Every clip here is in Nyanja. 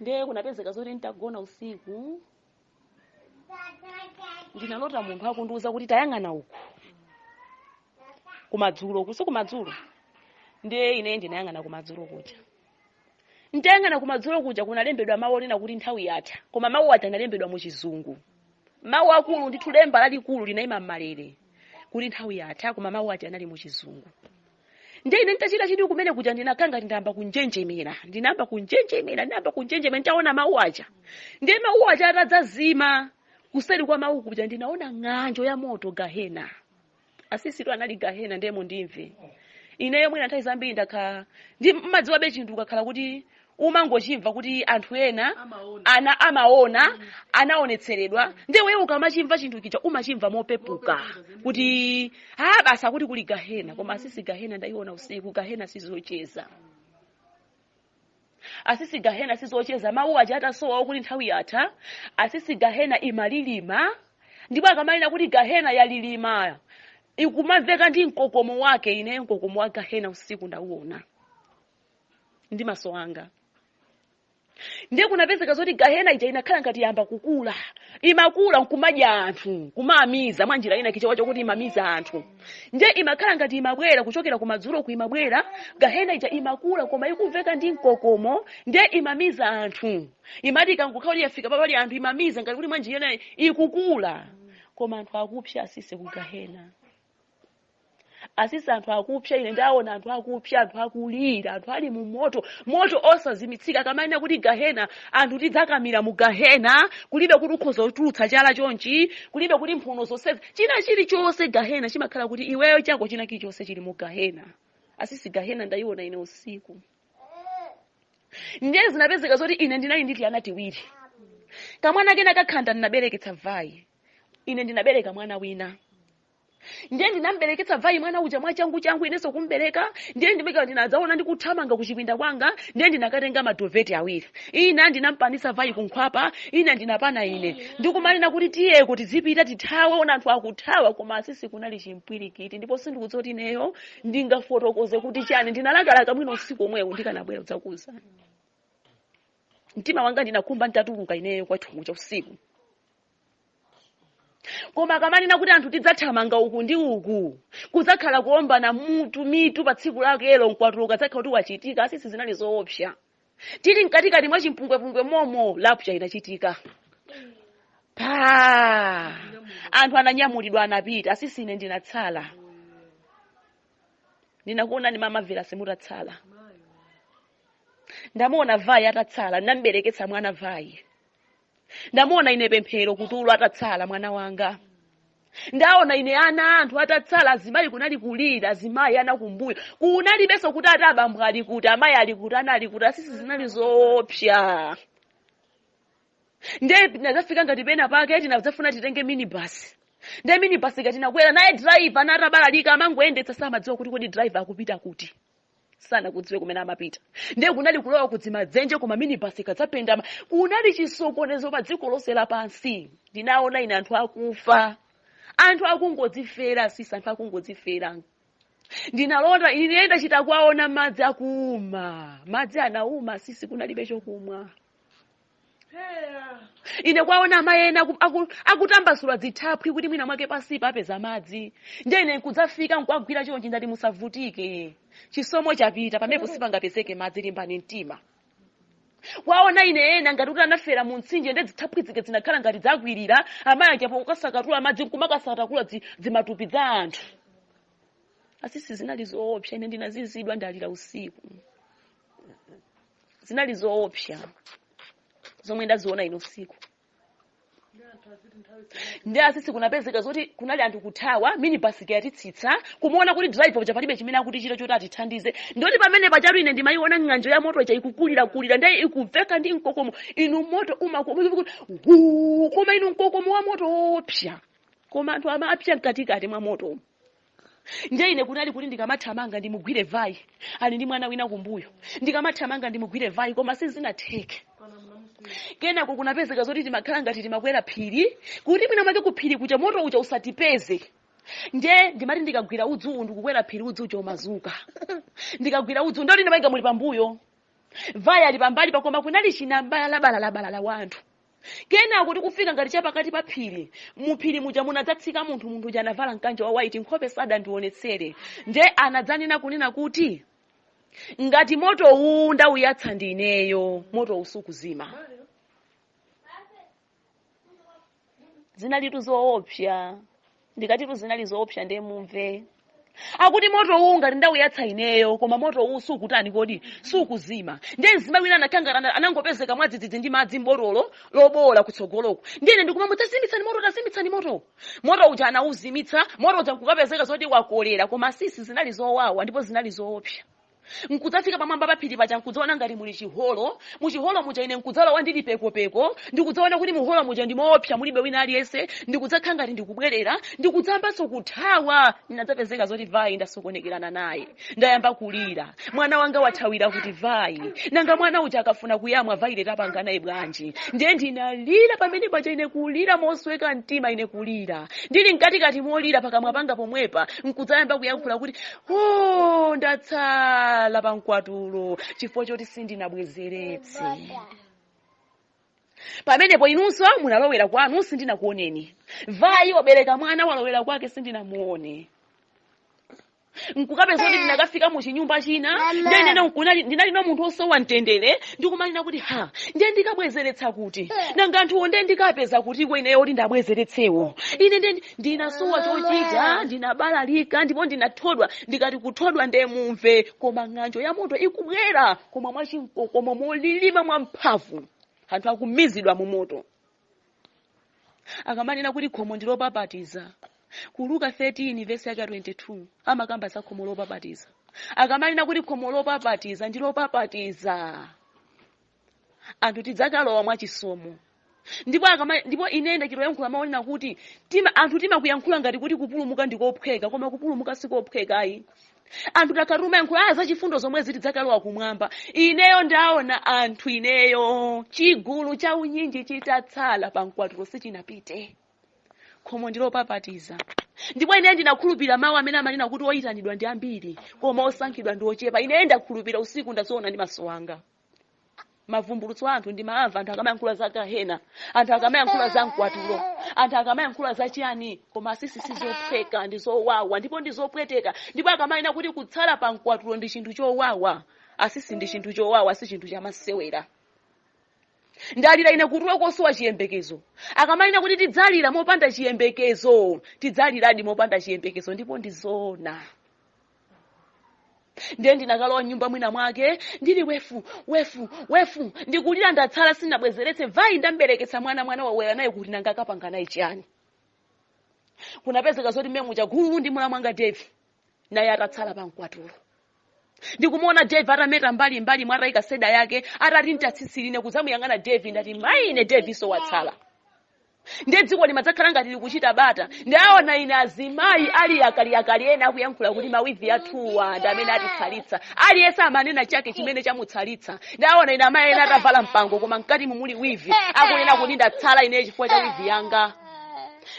ndiye kunapezeka zoti nditagona usiku ndinalota munthu akundiuza kuti tayang'ana uku kumadzulo uku si kumadzulo ndiye ine ndinayang'ana kumadzulo kuja nditayang'ana kumadzulo kuja kunalembedwa mawu onena kuti nthawi yatha koma mawu aja analembedwa mu chizungu mawu akulu ndithu lemba lalikulu linayima m'malere kuti nthawi yatha koma mawu aja anali mu chizungu ndiye ine nditachita chidwi kumene kuja ndinakhala ngati ndayamba kunjenjemera ndinayamba kunjenjemera ndinayamba kunjenjemera nditaona mawu aja ndiye mawu aja atadzazima kuseri kwa mawu kuja ndinaona ng'anjo ya moto gahena asisi tu anali gahena ndiye mundimve ineyo mwina nthawi zambiri ndakhala ndiye mumadziwabe chinthu ukakhala kuti umangochimva kuti anthu ena amaona anaonetseredwa ndiye iwe ukamachimva chinthu chija umachimva mopepuka kuti ha basi akuti kuli gahena koma asisi gahena ndaiona usiku gahena sizocheza asisi gahena sizocheza mawu aja atasowa okuti nthawi yatha asisi gahena imalilima ndipo akamanena kuti gahena yalilima ikumamveka ndi mkokomo wake ine mkokomo wa gahena usiku ndauona ndi maso anga ndiye kunapezeka zoti gahena ija inakhala ngati yamba kukula imakula nkumadya anthu kumamiza mwa njira ina chifukwa chokuti imamiza anthu ndiye imakhala ngati imabwera kuchokera kumadzulo uku imabwera gahena ija imakula koma ikumveka ndi mkokomo ndiye imamiza anthu imati ikangokhala kuti yafika papali anthu imamiza ngati kuti mwa njira ina ikukula koma anthu akupsa asisi ku gahena asisi anthu akupsa ine ndaona anthu akupsa anthu akulira anthu ali mu moto moto osazimitsika akamanena kuti gahena anthu tidzakamira mu gahena kulibe kuti ukhoza kutulutsa chala chonchi kulibe kuti mphuno zonse china chilichonse gahena chimakhala kuti iweyo chako china chilichonse chili mu gahena asisi gahena ndayiona ine usiku ndiye zinapezeka zoti ine ndinali ndi tiana tiwiri kamwana kena kakhanda ndinabereketsa vayi ine ndinabereka mwana wina ndiye ndinambereketsa vayi mwana uja mwachanguchangu inenso kumbereka ndiye ndimeka ndinadzaona ndikuthamanga kuchipinda kwanga ndiye ndinakatenga madoveti awiri ina ndinampanisa vayi kunkhwapa ina ndinapana ine ndikumanena kuti tiye kuti zipita tithawe ona anthu akuthawa koma asisi kunali chimpwirikiti ndipo sindikudziwa kuti ineyo ndingafotokoze kuti chani ndinalakalaka mwina usiku omwewo ndikanabwera kudzakuuzani mtima wanga ndinakhumba nditatuluka ineyo kwathu kucha usiku koma akamanena kuti anthu tidzathamanga uku ndi uku kudzakhala kuombana mutu mitu pa tsiku lakelo mkwatulo ukadzakhala kuti wachitika asisi zinali zoopsa tili mkatikati mwa chimpungwepungwe momo lapcha inachitika anthu ananyamulidwa anapita asisi ine ndinatsala ndinakuonani mama vera mutatsala ndamuona vai atatsala ndinambereketsa mwana vai ndamuona ine pemphero kutulo atatsala mwana wanga ndaona ine ana anthu atatsala azimayi kunali kulira azimayi ana kumbuyo kunalibenso kuti atabambo ali kuti amayi ali kuti ana ali kuti asisi zinali zoopsa nde tinadzafika ngati pena pake tinadzafuna titenge minibasi nde minibasi ija tinakwera naye driver anatabalalika amangoyendetsa samadziwa kuti kodi driver akupita kuti sanakudziwe kumene amapita ndiye kunali kulowa kudzimadzenje koma minibasi ija idzapendama kunali chisokonezo pa dziko lonse lapansi ndinaona ine anthu akufa anthu akungodzifera sisi anthu akungodzifera ndinalota ine ndachita kuwaona madzi akuuma madzi anauma sisi kunalibe chokumwa ine kwaona amayi ena akutambasula dzithaphwi kuti mwina mwake pansipa apeza madzi ndiye ine nkudzafika nkuwagwira chonchi ndati musavutike chisomo chapita pamenepo sipangapezeke madzi limbani mtima kwaona ine ena ngati kuti anafera mu mtsinje ndi dzithaphwi zike zinakhala ngati zakwirira amayi apo ukasakatula madzi nkumakasakatakula dzi- dzimatupi dza anthu asisi zinali zoopsa ine ndinazizwa ndalira usiku zinali zoopsa zomwe ndaziona ino usiku nde asisi kunapezeka zoti kunali anthu kuthawa minibasi yatitsitsa kumaona kuti driver uja palibe chimene akutichita choti atithandize nde ndi pamene pajatu ine ndimayiona ng'anjo ya moto ija ikukulirakulira ndiye ikumveka ndi mkokomo inu moto umakuti koma inu mkokomo wa moto woopsa koma anthu amapsa mkatikati mwa moto umu ndiye ine kunali kuti ndikamathamanga ndimugwire vai ali ndi mwana wina kumbuyo ndikamathamanga ndimugwire vai koma sizinatheke kenako kunapezeka zoti timakhala ngati timakwera phiri kuti mwina mwake ku phiri kuja moto uja usatipeze nde ndimati ndikagwira udzu uwu ndikukwera phiri udzu uja umazuka ndikagwira udzu nde ti ndi mayi anga muli pambuyo vai ali pambalipa koma kunali chinabalabalalabalala wa anthu kenako tikufika ngati chapakati pa phiri muphiri muja munadzatsika munthu munthu uja anavala mkanjo wa waiti nkhope sadandionetsere nde anadzanena kunena kuti ngati moto uwu ndawuyatsa ndi ineyo moto usuzima zinalitu zoopsa ndikatitu zinali zoopsa ndiye mumve akuti moto uwu ngati ndawuyatsa ineyo koma moto uwu sukutani kodi sukuzima ndiye mzimayi wina anakangana anangopezeka mwadzidzidzi ndi madzi mbotolo lobowola kutsogoloko ndiye ine ndikumamuuza tazimitsani moto tazimitsani moto moto uja anawuzimitsa moto uja nkukapezeka zoti wakolera koma sisi zinali zowawa ndipo zinali zoopsa nkudzafika pamwamba pa phiri paja nkudzaona ngati muli chiholo muchiholo muja ine nkudzalowa ndili pekopeko ndikudzaona kuti muholo muja ndi moopsa mulibe wina aliyense ndikudzakhala ngati ndikubwerera ndikudzayambanso kuthawa ndinadzapezeka zoti vayi ndasokonekerana naye ndayamba kulira mwana wanga wathawira kuti vayi nanga mwana uja akafuna kuyamwa vayileti apanga naye bwanji ndiye ndinalira pamene paja ine kulira mosweka mtima ine kulira ndili mkatikati molira pakamwa panga pomwepa nkudzayamba kuyankhula kuti Oh, ndatsala pa mkwatulo chifukwa choti sindinabwezeretse pamenepo inunso munalowera kwanu sindinakuoneni vayi wabereka mwana walowera kwake sindinamuone nkukapeza kuti ndinakafika mu chinyumba china ndinali na munthu osowa mtendere ndikumanena kuti ha ndiye ndikabwezeretsa kuti nanga anthuwo ndiye ndikapeza kutiko ineyo oti ndabwezeretsewo ine ndiye ndi- ndinasowa chochita ndinabalalika ndipo ndinathodwa ndikati kuthodwa nde mumve koma ng'anjo ya moto ikubwera koma mwachimkokomo molilima mwamphamvu anthu akumizidwa mu moto akamanena kuti khomo ndi lopapatiza ku Luka 13 vesi yake ya 22 amakamba za khomo lopapatiza akamanena kuti khomo lopapatiza ndi lopapatiza anthu tidzakalowa mwachisomo ndipo akama ndipo ine ndachitoyankhula mawu onena kuti tima anthu timakuyankhula ngati kuti kupulumuka ndikophweka koma kupulumuka sikophweka ayi anthu takhala timayankhula aya zachifundo zomwezi tidzakalowa kumwamba ineyo ndaona anthu ineyo chigulu cha unyinji chitatsala pa mkwatulo sichinapite khomo ndilopapatiza ndipo ineyo ndinakhulupirira mawu amene amanena kuti oyitanidwa ndi ambiri koma osankhidwa ndi ochepa ineyo ndakhulupirira usiku ndaziona ndi maso anga mavumbulutso a anthu ndimamva anthu akamayankhula za gahena anthu akamayankhula za mkwatulo anthu akamayankhula za chiyani koma asisi si zophweka ndi zowawa ndipo ndi zopweteka ndipo akamanena kuti kutsala pa mkwatulo ndi chinthu chowawa asisi ndi chinthu chowawa si chinthu chamasewera ndalira ine kutulo kosowa chiyembekezo akamanena kuti tidzalira mopanda chiyembekezo tidzaliradi mopanda chiyembekezo ndipo ndi zoona ndiye ndinakalowa mnyumba mwina mwake ndili wefu wefu wefu ndikulira ndatsala sinabwezeretse vayi ndambereketsa mwana mwana walowera naye kuti nanga akapanga naye chiyani kunapezeka zoti mmemu chagulu ndi mlamu wanga devi naye atatsala pamkwatulo ndikumuona devi atameta mbali mbali mwatayika seda yake atati ntatsitsirine kudzamuyang'ana devi ndati mayi ine devinso watsala ndiye dziko limadzakhala ngati likuchita bata ndaona ine azimayi ali akaliakali ena akuyankhula kuti mawivi athuwa ndi amene atitsalitsa aliyense amanena chake chimene chamutsalitsa ndaona ine amayi ena atavala mpango koma mkati mumuli wivi akunena kuti ndatsala ine chifukwa cha wivi yanga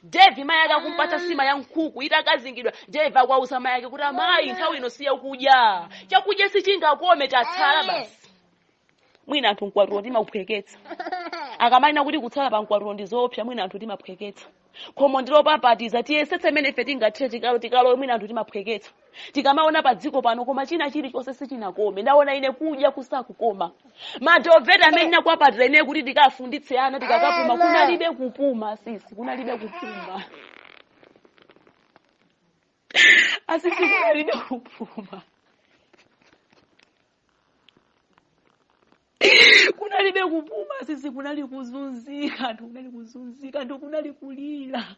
devi mayi ake akumpatsa sima ya nkhuku itakazingidwa devi akuwauza mayi ake kuti amayi nthawi ino siya kudya chakudya sichingakome tatsala basi mwina anthu mkwatulo timauphweketsa akamanena kuti kutsala pa mkwatulo ndi zoopsa mwina anthu timaphweketsa khomo ndilopapatiza tiyesetse mmene ife tingathe tikalo tikalo mwina anthu timaphweketsa tikamaona pa dziko pano koma china chilichonse sichinakome ndaona ine kudya kusakukoma maduveti amene ndinakwapatira ine kuti ndikafunditse ana tikakapuma kunalibe kupuma sisi kunalibe kupuma asisi kunalibe kupuma kunalibe kupuma sisi kunali kuzunzika anthu kunali kuzunzika anthu kunali kulira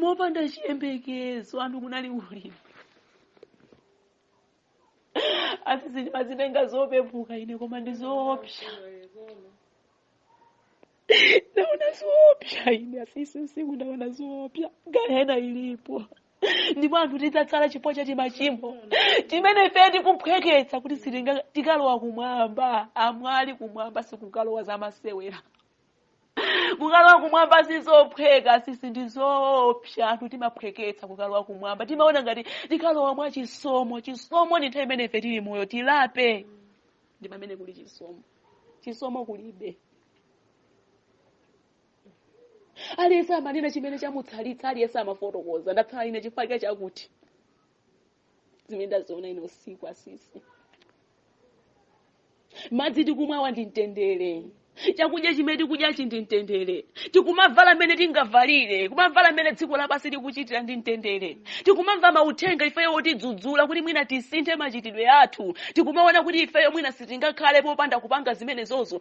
mopanda chiyembekezo anthu kunali kulira asisi ndimazitenga zopepuka ine koma ndi zoopsa ndaona zoopsa ine asisi usiku ndaona zoopsa gahena ilipo ndipo anthu tidzatsala chifukwa cha timachimo timene ife tikuphweketsa kuti sitinga- tikalowa kumwamba amwali kumwamba sikukalowa zamasewera kukalowa kumwamba sizophweka sisi ndi zoopsa anthu timaphweketsa kukalowa kumwamba timaona ngati tikalowa mwa chisomo chisomo ndi nthawi imene ife tili moyo tilape ndi pamene kuli chisomo chisomo kulibe aliyense amanena chimene chamutsalitsa aliyense amafotokoza ndatsala ine chifukwa chakuti zimene ndaziona ine usiku asisi madzi tikumwawa ndi mtendere chakudya chimene tikudyachi ndi mtendere tikumavala mmene tingavalire kumavala mmene dziko lapansi likuchitira ndi mtendere tikumamva mauthenga ifeyo otidzudzula kuti mwina tisinthe machitidwe athu tikumaona kuti ifeyo mwina sitingakhale popanda kupanga zimenezozo